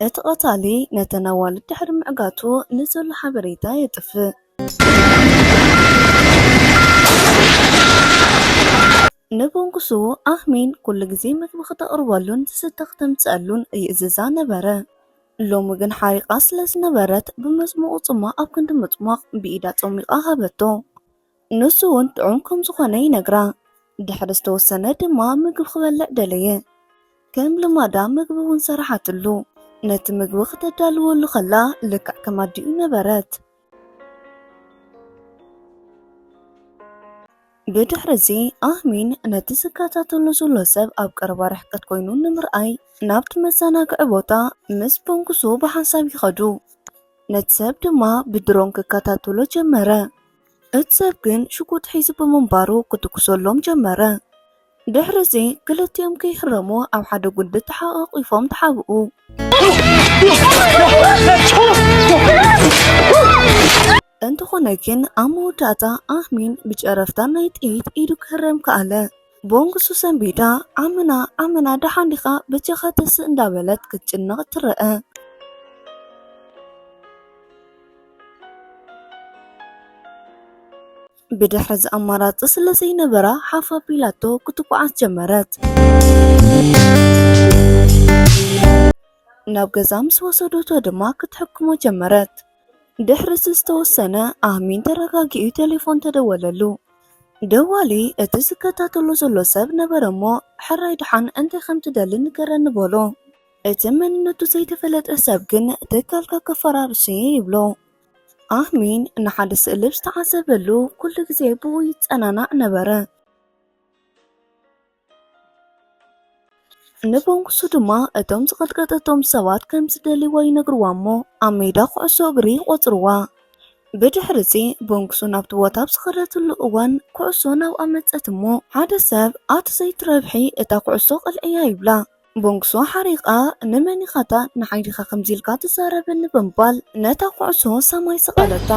እቲ ቀታሊ ነተን ኣዋልድ ድሕሪ ምዕጋቱ ንዘሎ ሓበሬታ የጥፍእ። ንብንጉሱ ኣህሚን ኩሉ ግዜ ምግቢ ክተቕርበሉን ዝስተ ክተምጽኣሉን ይእዝዛ ነበረ። ሎሚ ግን ሓሪቓ ስለ ዝነበረት ብመጽሞቝ ጽሟቕ ኣብ ክንዲ ምጽሟቕ ብኢዳ ጸሚቓ ሃበቶ። ንሱ እውን ጥዑም ከም ዝኾነ ይነግራ። ድሕሪ ዝተወሰነ ድማ ምግቢ ክበልዕ ደለየ። ከም ልማዳ ምግቢ እውን ሰራሓትሉ። ነቲ ምግቢ ክተዳልወሉ ከላ ልክዕ ከም ኣዲኡ ነበረት። ብድሕሪ እዚ ኣህሚን ነቲ ዝከታተሎ ዘሎ ሰብ ኣብ ቀረባ ርሕቀት ኮይኑ ንምርኣይ ናብቲ መዘናግዒ ቦታ ምስ ቦንጉሱ ብሓንሳብ ይኸዱ። ነቲ ሰብ ድማ ብድሮን ክከታተሎ ጀመረ። እቲ ሰብ ግን ሽጉጥ ሒዙ ብምንባሩ ክትኩሰሎም ጀመረ። ድሕርዚ ክልቲኦም ከይህረሙ ኣብ ሓደ ጉንዲ ተሓቛቒፎም ተሓብኡ። እንተኾነ ግን ኣብ መወዳእታ ኣሚን ብጨረፍታ ናይ ጥይት ኢዱ ክህረም ከኣለ። ቦንግሱ ሰንቢዳ ኣመና ኣመና ደሓን ዲኻ በጃኻ ተስእ እንዳበለት ክትጭነቕ ትረአ። ብድሕሪ እዚ ኣማራፂ ስለ ዘይነበራ ሓፍ ኣቢላቶ ክትጓዓዝ ጀመረት። ናብ ገዛ ምስ ወሰደቶ ድማ ክትሕክሞ ጀመረት። ድሕሪ'ቲ ዝተወሰነ ኣሚን ተረጋጊኡ ቴሌፎን ተደወለሉ። ደዋሊ እቲ ዝከታተሎ ዘሎ ሰብ ነበረ'ሞ፣ ሕራይ ደሓን እንታይ ከም ትደሊ ንገረኒ በሎ። እቲ መንነቱ ዘይተፈለጠ ሰብ ግን ትካልካ ከፈራርሶ'የ ይብሎ። ኣሚን ንሓደ ስእሊ ኣብ ዝተዓዘበሉ ኩሉ ግዜ ብኡ ይጸናናዕ ነበረ። ንበንኩሱ ድማ እቶም ዝቐጥቀጠቶም ሰባት ከም ዝደልይዎ ይነግርዋ እሞ ኣብ ሜዳ ኩዕሶ እግሪ ይቖጽርዋ። ብድሕሪ እዚ በንኩሱ ናብቲ ቦታ ኣብ ዝኸደትሉ እዋን ኩዕሶ ናብኣ መጸት እሞ ሓደ ሰብ ኣቲ ዘይትረብሒ እታ ኩዕሶ ቕልዕያ ይብላ። ቦንግሶ ሓሪቓ፣ ንመን ኢኻ'ታ ንሓይልኻ ከምዚ ኢልካ ትዛረበኒ ብምባል ነታ ኩዕሶ ሰማይ ሰቐለታ።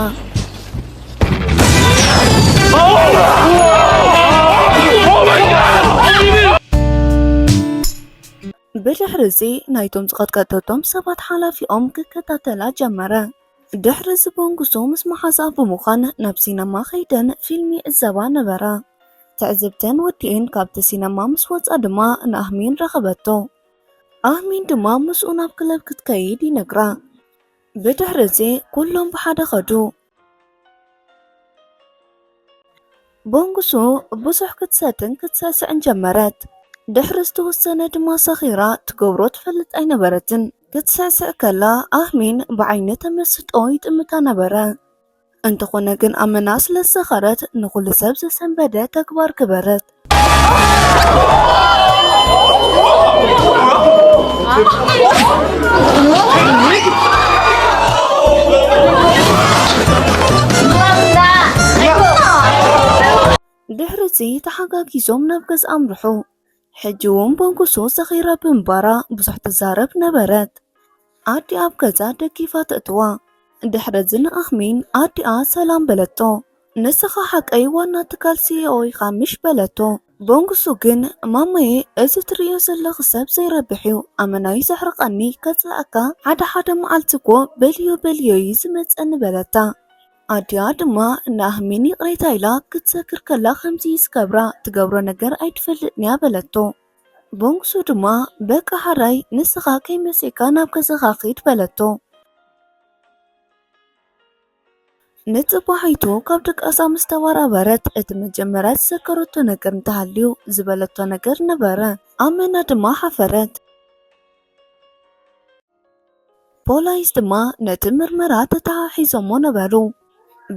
ብድሕርዚ ናይቶም ዝቐጥቀጠቶም ሰባት ሓላፊኦም ክከታተላ ጀመረ። ድሕሪ እዚ ቦንጉሶ ምስ መሓዛ ብምዃን ናብ ሲነማ ከይደን ፊልም ይዕዘባ ነበራ። ትዕዝብተን ወዲኤን ካብቲ ሲነማ ምስ ወጻ ድማ ንኣህሚን ረኸበቶ። ኣህሚን ድማ ምስኡ ናብ ክለብ ክትከይድ ይነግራ። ብድሕሪ እዚ ኩሎም ብሓደ ኸዱ። ቦንጉሱ ብዙሕ ክትሰትን ክትሰስዕን ጀመረት። ድሕሪ ዝተወሰነ ድማ ሰኺራ ትገብሮ ትፈልጥ ኣይነበረትን። ክትሰስዕ ከላ ኣህሚን ብዓይኒ ተመስጦ ይጥምታ ነበረ። እንተኾነ ግን ኣመና ስለ ዝሰኸረት ንኹሉ ሰብ ዘሰንበደ ተግባር ግበረት። ድሕሪ እዚ ተሓጋጊዞም ናብ ገዝኣ ኣምርሑ። ሕጂ ውን በንኩሱ ሰኺራ ብምባራ ብዙሕ ትዛረብ ነበረት። ኣዲኣ ኣብ ገዛ ደጊፋ ተእትዋ። ድሕርዚ ንኣህሚን ኣዲኣ ሰላም በለቶ። ንስኻ ሓቀይ ዋና ትካል ሲኢኦ ኢኻ ምሽ በለቶ። በንኩሱ ግን ማማየ እዚ ትርእዮ ዘለኺ ሰብ ዘይረብሕ እዩ፣ ኣመና'ዩ ዘሕርቐኒ፣ ከጽልኣካ ሓደ ሓደ መዓልቲ እኮ በልዮ በልዮ እዩ ዝመጸኒ በለታ። ኣዲኣ ድማ ንኣህሚን ይቕሬታ ኢላ ክትሰክር ከላ ከምዚ ዝገብራ ትገብሮ ነገር ኣይትፈልጥንያ በለቶ። ቦንግሱ ድማ በቃ ሓራይ ንስኻ ከይመሴካ ናብ ገዛኻ ኺድ በለቶ። ንጽባሒቱ ካብ ደቃሳ ምስ ተባራበረት እቲ መጀመርያ ዝሰከረቶ ነገር እንተሃልዩ ዝበለቶ ነገር ነበረ። ኣመና ድማ ሓፈረት። ፖላይስ ድማ ነቲ ምርመራ ተተሓሒዞሞ ነበሩ።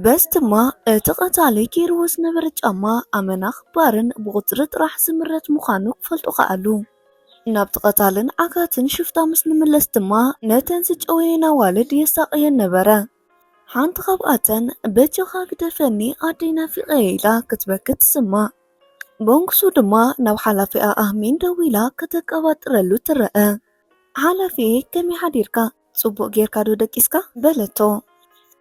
በስ ድማ እቲ ቀታሊ ጌርዎ ዝነበረ ጫማ ኣመና ክባርን ብቑጽሪ ጥራሕ ዝምረት ምዃኑ ክፈልጡ ከኣሉ። ናብቲ ቀታልን ዓጋትን ሽፍታ ምስ ንምለስ ድማ ነተን ዝጨወየን ኣዋልድ የሳቕየን ነበረ። ሓንቲ ካብኣተን በጃኻ ግደፈኒ ኣደይ ናፊቐየ ኢላ ክትበኪ ትስማዕ። በንኩሱ ድማ ናብ ሓላፊኣ ኣህሚን ደዊላ ከተቀባጥረሉ ትረኣ። ሓላፊየይ ከመይ ሓዲርካ ጽቡቕ ጌርካ ዶ ደቂስካ? በለቶ።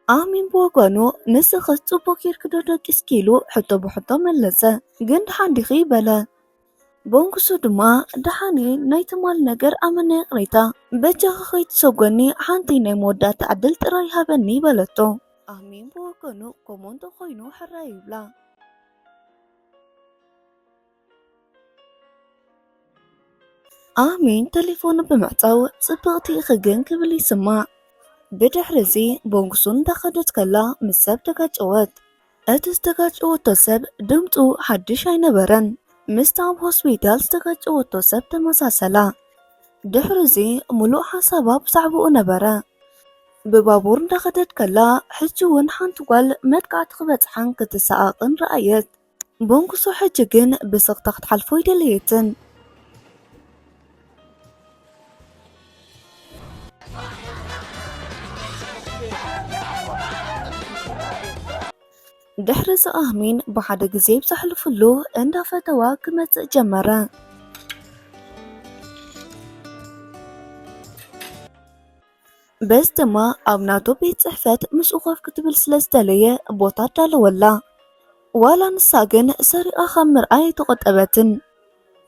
ኣሚን ብወገኑ ንስኽስ ጽቡቕ ጌርኪ ዶ ደቂስኪ ኢሉ ሕቶ ብሕቶ መለሰ። ግን ደሓን ዲኺ? በለ። በንኩሱ ድማ ደሓንየ ናይ ትማል ነገር ኣመና ይቕሬታ በጃኻ ከይትሰጎኒ ሓንቲ ናይ መወዳእታ ዕድል ጥራይ ሃበኒ በለቶ። ኣሚን ብወገኑ ከምኡ እንተኾይኑ ሕራይ ይብላ። ኣሜን ተሌፎኑ ብምዕጻው ጽብቕቲ ኢኺ ግን ክብል ይስማዕ። ብድሕሪ እዚ ቦንጉሱ እንዳኸደት ከላ ምስ ሰብ ተጋጨወት። እቲ ዝተጋጨወቶ ሰብ ድምፁ ሓድሽ ኣይነበረን። ምስቲ ኣብ ሆስፒታል ዝተጋጨወቶ ሰብ ተመሳሰላ። ድሕሪ እዚ ሙሉእ ሓሳባ ብዛዕባኡ ነበረ። ብባቡር እንዳኸደት ከላ ሕጂ እውን ሓንቲ ጓል መጥቃዕቲ ክበጽሓን ክትሰኣቕን ረኣየት። ቦንኩሶ ሕጂ ግን ብስቕታ ክትሓልፎ ኣይደለየትን። ድሕሪ እዚ ኣህሚን ብሓደ ግዜ ኣብ ዘሕልፍሉ እንዳፈተዋ ክመጽእ ጀመረ። በዚ ድማ ኣብ ናቶ ቤት ጽሕፈት ምስኡ ኮፍ ክትብል ስለ ዝደለየ ቦታ ኣዳለወላ። ዋላ ንሳ ግን ሰሪቓ ካብ ምርኣይ ኣይተቖጠበትን።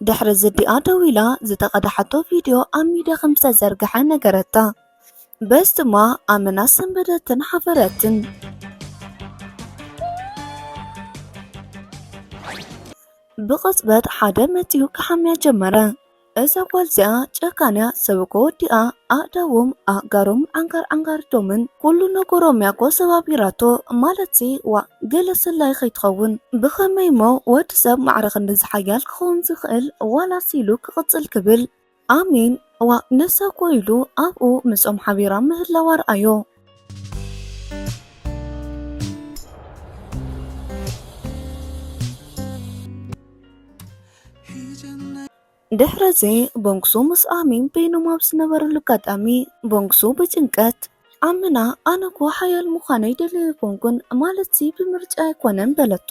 ድሕሪ ዝዲኣ ደው ኢላ ዝተቐድሓቶ ቪድዮ ኣብ ሚድያ ከም ዝተዘርግሐ ነገረታ። በዚ ድማ ኣመና ሰንበደትን ሓፈረትን። ብቕጽበት ሓደ መጺኡ ክሓምያ ጀመረ። እዛ ጓል እዚኣ ጨካንያ ሰብ እኮ ወዲኣ ኣእዳዎም ኣእጋሮም ዓንጋር ዓንጋርቶምን ኩሉ ነገሮም እያ እኮ ሰባቢራቶ ማለትሲ ዋ ገለ ሰላይ ከይትኸውን ብኸመይ እሞ ወዲ ሰብ ማዕረ ክንድዚ ሓያል ክኸውን ዝኽእል ዋላስ ኢሉ ክቕጽል ክብል ኣሜን ዋ ንሳ እኮ ኢሉ ኣብኡ ምስኦም ሓቢራ ምህላዋ ርኣዮ ድሕረዚ ቦንክሱ ምስ ኣሚን በይኖም ኣብ ዝነበረሉ ኣጋጣሚ ቦንክሱ ብጭንቀት ኣምና ኣነ እኮ ሓያል ምዃነ ይደልየ ኣይኮንኩን ማለት ሲ ብምርጫ ኣይኮነን በለቶ።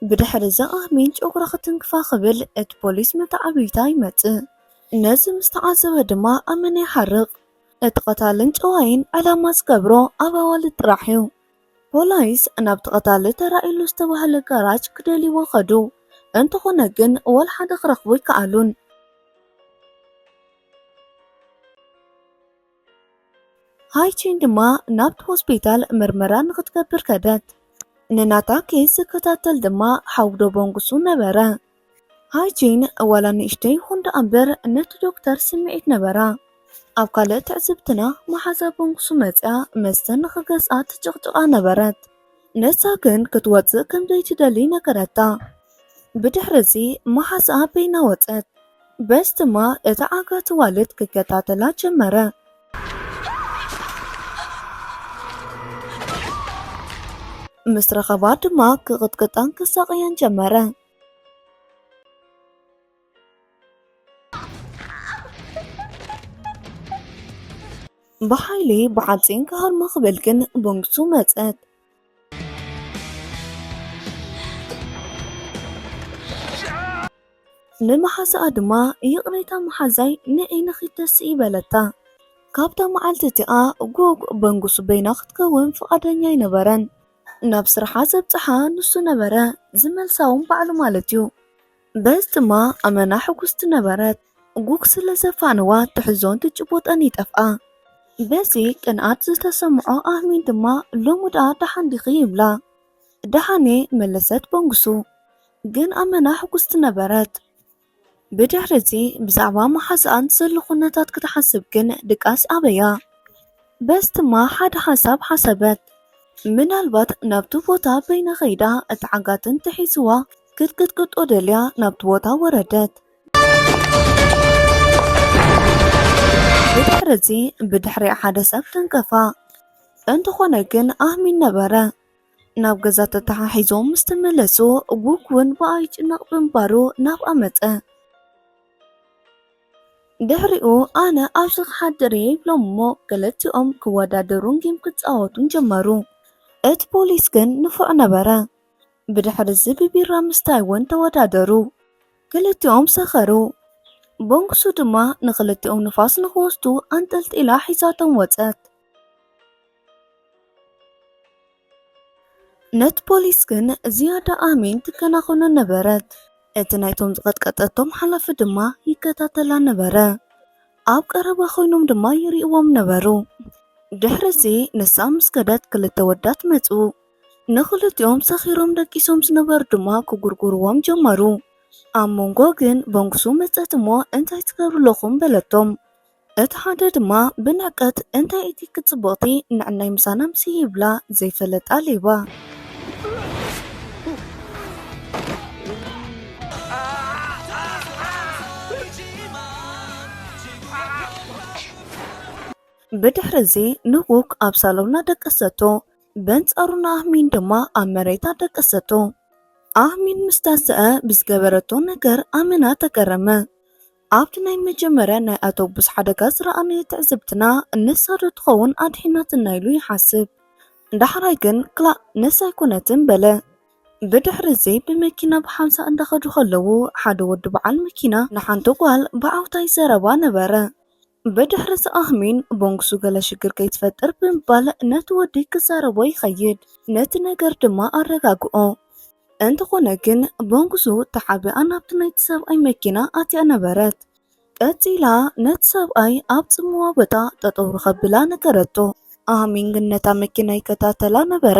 ብድሕሪ እዚ ኣሚን ጨጉራ ክትንክፋ ክብል እቲ ፖሊስ መተዓብይታ ይመጽእ። ነዚ ምስ ተዓዘበ ድማ ኣመና ይሓርቕ። እቲ ቀታልን ጨዋይን ዕላማ ዝገብሮ ኣብ ኣዋልድ ጥራሕ እዩ። ፖላይስ ናብቲ ቀታሊ ተራእዩሉ ዝተባህለ ጋራጅ ክደልይዎ ከዱ። እንተኾነ ግን ወላ ሓደ ክረኽቡ ኣይከኣሉን። ሃይቺን ድማ ናብቲ ሆስፒታል ምርመራ ንኽትገብር ከደት። ንናታ ኬዝ ዝከታተል ድማ ሓው ዶቦንጉሱ ነበረ። ሃይቺን ዋላ ንእሽተይ ይኹን ደኣ እምበር ነቲ ዶክተር ስምዒት ነበራ። ኣብ ካልእ ትዕዝብትና መሓዛ ቦንጉሱ መጺኣ መስተን ንኽገዝኣ ትጭቕጭቓ ነበረት። ንሳ ግን ክትወጽእ ከም ዘይትደሊ ነገረታ። ብድሕርዚ መሓዝኣ በይና ወጸት። በስ ድማ እታ ዓጋቲ ዋልት ክከታተላ ጀመረ። ምስ ረኸባ ድማ ክቕጥቅጣን ከሳቕያን ጀመረ። ብሓይሊ ብዓፂን ክሃርማ ክበል ግን ቦንግሱ መፀት ንመሓስኣ ድማ ይቕሬታ መሓዛይ ንዒንኺ ደስ ይበለታ ካብታ መዓልቲ እቲኣ ጎግ በንጉሱ በይና ክትከውን ፍቓደኛ ኣይነበረን ናብ ስርሓ ዘብፅሓ ንሱ ነበረ ዝመልሳውን ባዕሉ ማለት እዩ በዚ ድማ ኣመና ሕጉስቲ ነበረት። ጉግ ስለ ዘፋነዋ ትሕዞን ትጭቡጠን ይጠፍኣ። በዚ ቅንኣት ዝተሰምዖ ኣህሚን ድማ ሎሚ ደኣ ደሓን ዲኺ ይብላ። ደሓንየ መለሰት በንጉሱ። ግን ኣመና ሕጉስቲ ነበረት። ብድሕሪዚ ብዛዕባ መሓዛኣን ዘሎ ኩነታት ክትሓስብ ግን ድቃስ ኣበያ። በዚ ድማ ሓደ ሓሳብ ሓሰበት። ምናልባት ናብቲ ቦታ በይና ከይዳ እቲ ዓጋትን ተሒዝዋ ክትቅጥቅጦ ደልያ ናብቲ ቦታ ወረደት። ብድሕሪ እዚ ብድሕሪኣ ሓደ ሰብ ተንቀፋ። እንተኾነ ግን ኣህሚን ነበረ። ናብ ገዛ ተተሓሒዞም ምስ ተመለሱ ጉግ እውን ብኣ ይጭነቕ ብምባሩ ናብኣ መፀ። ድሕሪኡ ኣነ ኣብዚ ክሓድር እየ ይብሎም እሞ ክልቲኦም ክወዳደሩን ጌም ክፃወቱን ጀመሩ። እቲ ፖሊስ ግን ንፉዕ ነበረ። ብድሕርዚ ብቢራ ምስታይ እውን ተወዳደሩ። ክልቲኦም ሰኸሩ። ቦንግሱ ድማ ንኽልቲኦም ንፋስ ንኽወስዱ ኣንጠልጢላ ሒዛቶም ወጸት። ነቲ ፖሊስ ግን ዝያዳ ኣሚን ትከናኸኖ ነበረት። እቲ ናይቶም ዝቐጥቀጠቶም ሓላፊ ድማ ይከታተላ ነበረ። ኣብ ቀረባ ኮይኖም ድማ ይርእዎም ነበሩ። ድሕርዚ ንሳ ምስ ከደት ክልተ ወዳት መጹ። ንኽልቲኦም ሰኺሮም ደቂሶም ዝነበሩ ድማ ክጉርጉርዎም ጀመሩ። ኣብ መንጎ ግን በንጉሱ መጸት እሞ እንታይ ትገብሩ ኣለኹም በለቶም። እቲ ሓደ ድማ ብንዕቀት እንታይ እቲ ክጽብቕቲ ንዕናይ ምሳና ምስ ይብላ ዘይፈለጣ ሌባ ብድሕሪ እዚ ንጉክ ኣብ ሳሎና ደቀሰቶ። በንጻሩ ንኣህሚን ድማ ኣብ መሬት ኣደቀሰቶ። ኣህሚን ምስ ተሰኣ ብዝገበረቶ ነገር ኣመና ተገረመ። ኣብቲ ናይ መጀመርያ ናይ ኣቶቡስ ሓደጋ ዝረኣናዮ ትዕዝብትና ንሳ ዶ ትኸውን ኣድሒናትና ኢሉ ይሓስብ። ዳሕራይ ግን ክላእ ንሳ ኣይኮነትን በለ። ብድሕርዚ ብመኪና ብሓምሳ እንዳኸዱ ከለዉ ሓደ ወዲ በዓል መኪና ንሓንቲ ጓል ብዓውታ ይዘረባ ነበረ። ብድሕሪ'ዚ ኣህሚን ቦንግሱ ገለ ሽግር ከይትፈጥር ብምባል ነቲ ወዲ ክዛረቦ ይኸይድ፣ ነቲ ነገር ድማ ኣረጋግኦ። እንተኾነ ግን ቦንግሱ ተሓቢኣ ናብቲ ናይቲ ሰብኣይ መኪና ኣትያ ነበረት። ቀጺላ ነቲ ሰብኣይ ኣብ ጽምዋ ቦታ ጠጠው ንኸብላ ነገረቶ። ኣህሚን ግን ነታ መኪና ይከታተላ ነበረ።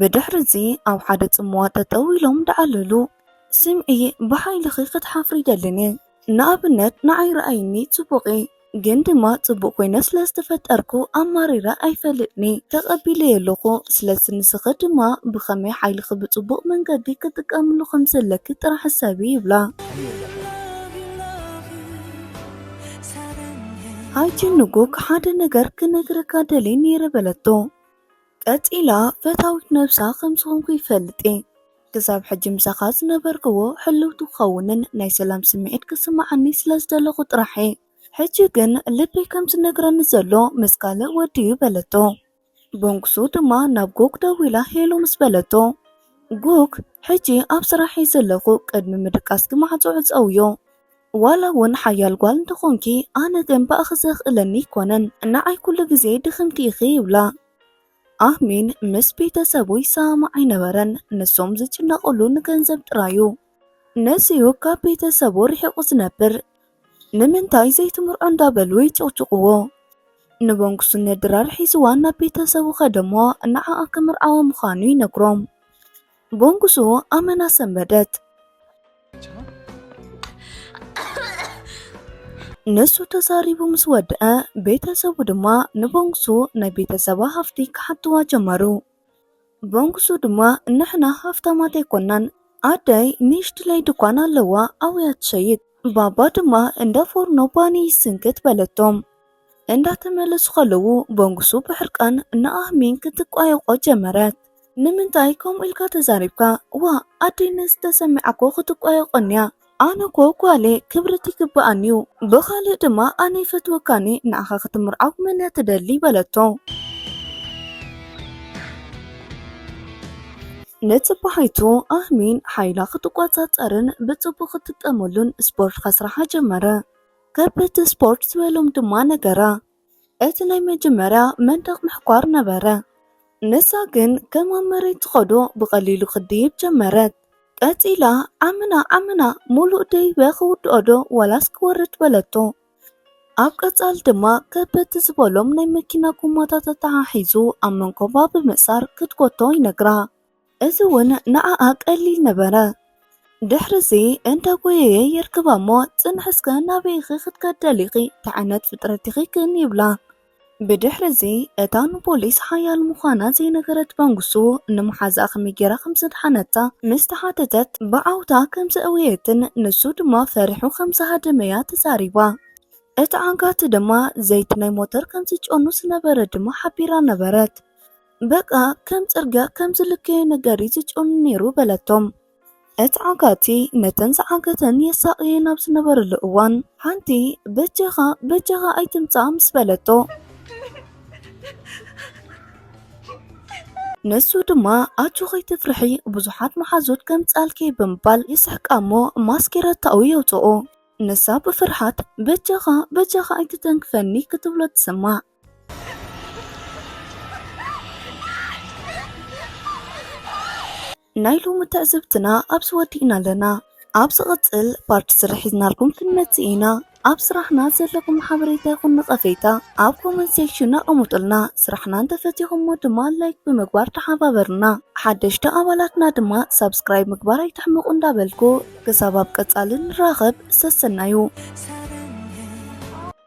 ብድሕርዚ ኣብ ሓደ ጽምዋ ጠጠው ኢሎም ደኣለሉ። ስምዒ ብሓይልኺ ክትሓፍሪ ይደልኒ። ንኣብነት ንዓይ ረኣይኒ ጽቡቕ'የ ግን ድማ ጽቡቕ ኮይነ ስለ ዝተፈጠርኩ ኣማሪረ ኣይፈልጥን'የ ተቐቢለዮ ኣለኹ። ስለዚ ንስኺ ድማ ብኸመይ ሓይልኺ ብጽቡቕ መንገዲ ክትጥቀምሉ ከም ዘለኪ ጥራሕ ሕሰቢ ይብላ። ኣይ ጅንጉክ ሓደ ነገር ክነግረካ ደልየ ነይረ በለቶ። ቀጺላ ፈታዊት ነብሳ ከም ዝኾንኩ ይፈልጥ'የ። ክሳብ ሕጂ ምሳኻ ዝነበርክዎ ሕልውቲ ክኸውንን ናይ ሰላም ስምዒት ክስምዓኒ ስለ ዝደለኹ ጥራሕ'የ። ሕጂ ግን ልበይ ከም ዝነግረኒ ዘሎ ምስ ካልእ ወዲ'ዩ በለቶ። በንኩሱ ድማ ናብ ጉግ ደዊላ ሄሎ ምስ በለቶ፣ ጉግ ሕጂ ኣብ ስራሕ'የ ዘለኹ ቅድሚ ምድቃስኪ ማዕጾ ዕጸውዮ። ዋላ ውን ሓያል ጓል እንተኾንኪ ኣነ ግን ብኣኺ ዘኽእለኒ ኣይኮነን ንዓይ ኩሉ ግዜ ድኽምቲ ኢኺ ይብላ። ኣህሚን ምስ ቤተሰቡ ይሰማማዕ ኣይነበረን፣ ንሶም ዝጭነቕሉ ንገንዘብ ጥራይ ዩ። ነዚ'ዩ ካብ ቤተሰቡ ርሒቑ ዝነብር። ንምንታይ ዘይትምርዖ እንዳበሉ ይጭቕጭቕዎ። ንበንግሱ ንድራር ሒዝዋ ናብ ቤተሰቡ ከደ'ሞ ንዓኣ ክምርዓዋ ምዃኑ ይነግሮም። ጎንጉሱ ኣመና ሰንበደት። ንሱ ተዛሪቡ ምስ ወድአ ቤተሰቡ ድማ ንቦንግሱ ናይ ቤተሰባ ሃፍቲ ክሓትዋ ጀመሩ። ቦንግሱ ድማ ንሕና ሃፍታማት ኣይኮናን፣ ኣደይ ንእሽትለይ ድኳን ኣለዋ ኣውያ ትሸይጥ፣ ባባ ድማ እንዳ ፎርኖ ባኒ ይስንክት በለቶም። እንዳተመለሱ ከለዉ ቦንግሱ ብሕርቃን ንኣህሚን ክትቋየቆ ጀመረት። ንምንታይ ከምኡ ኢልካ ተዛሪብካ ዋ ኣዴነ ዝተሰሚዓ እኮ ክትቋየቆኒያ ኣነ እኮ ጓሌ ክብርት ይግበኣኒ እዩ ብኻልእ ድማ ኣነ ይፈትወካኒ ንኣኻ ክትምርዓው መን እያ ትደሊ በለቶ ንፅባሒቱ ኣህሚን ሓይላ ክትቆፃፀርን ብፅቡቅ ክትጥቀመሉን ስፖርት ከስራሓ ጀመረ ከበድቲ ስፖርት ዝበሎም ድማ ነገራ እቲ ናይ መጀመርያ መንደቕ ምሕኳር ነበረ፣ ንሳ ግን ከም ኣብ መሬት ትኸዶ ብቐሊሉ ክትድይብ ጀመረት። ቀጺላ ዓምና ዓምና ሙሉእ ደይበ ክውድኦዶ ዋላስ ክወርድ በለቶ። ኣብ ቀጻሊ ድማ ከበድቲ ዝበሎም ናይ መኪና ጎማታት ኣተሓሒዙ ኣብ መንኮባ ብምእሳር ክትጎቶ ይነግራ። እዚ እውን ንዓኣ ቀሊል ነበረ። ድሕርዚ እንተ ጐየየ የርክባ እሞ ጽንሕ እስከ ናበይ ኢኺ ክትከዲ ደሊኺ? እንታይ ዓይነት ፍጥረት ኢኺ ግን? ይብላ። ብድሕርዚ እታ ንፖሊስ ሓያል ምዃና ዘይነገረት መንግስቱ ንመሓዝኣ ከመይ ገይራ ከም ዘድሓነታ ምስ ተሓተተት ብዓውታ ከም ዘእወየትን ንሱ ድማ ፈሪሑ ከም ዝሃደመ እያ ተዛሪባ። እቲ ዓጋቲ ድማ ዘይቲ ናይ ሞተር ከም ዝጨኑ ዝነበረ ድማ ሓቢራ ነበረት። በቃ ከም ጽርግያ ከም ዝልከዮ ነገር እዩ ዝጭኑ ነይሩ በለቶም። እቲ ዓጋቲ ነተን ዝዓገተን የሳቕየን ኣብ ዝነበረሉ እዋን ሓንቲ በጃኻ በጃኻ ኣይትምጻእ ምስ በለቶ ንሱ ድማ ኣጆ ከይትፍርሒ ብዙሓት መሓዙት ከምጻልኪ ብምባል ይስሕቃ እሞ ማስኬረታኡ የውጽኦ ንሳ ብፍርሓት በጃኻ በጃኻ ኣይትተንክፈኒ ክትብሎ ትስማዕ ናይ ሎሚ ትዕዝብትና ኣብዚ ወዲእና ኣለና ኣብ ዝቕፅል ፓርቲ ስራሕ ሒዝናልኩም ክንመፅእ ኢና ኣብ ስራሕና ዘለኹም ሓበሬታ ይኹን ነቐፌታ ኣብ ኮመንት ሴክሽን ኣቐምጡልና ስራሕና እንተፈቲኹሞ ድማ ላይክ ብምግባር ተሓባበሩና ሓደሽቲ ኣባላትና ድማ ሳብስክራይብ ምግባር ኣይትሕምቑ እንዳበልኩ ክሳብ ኣብ ቀፃሊ ንራኸብ ሰሰናዩ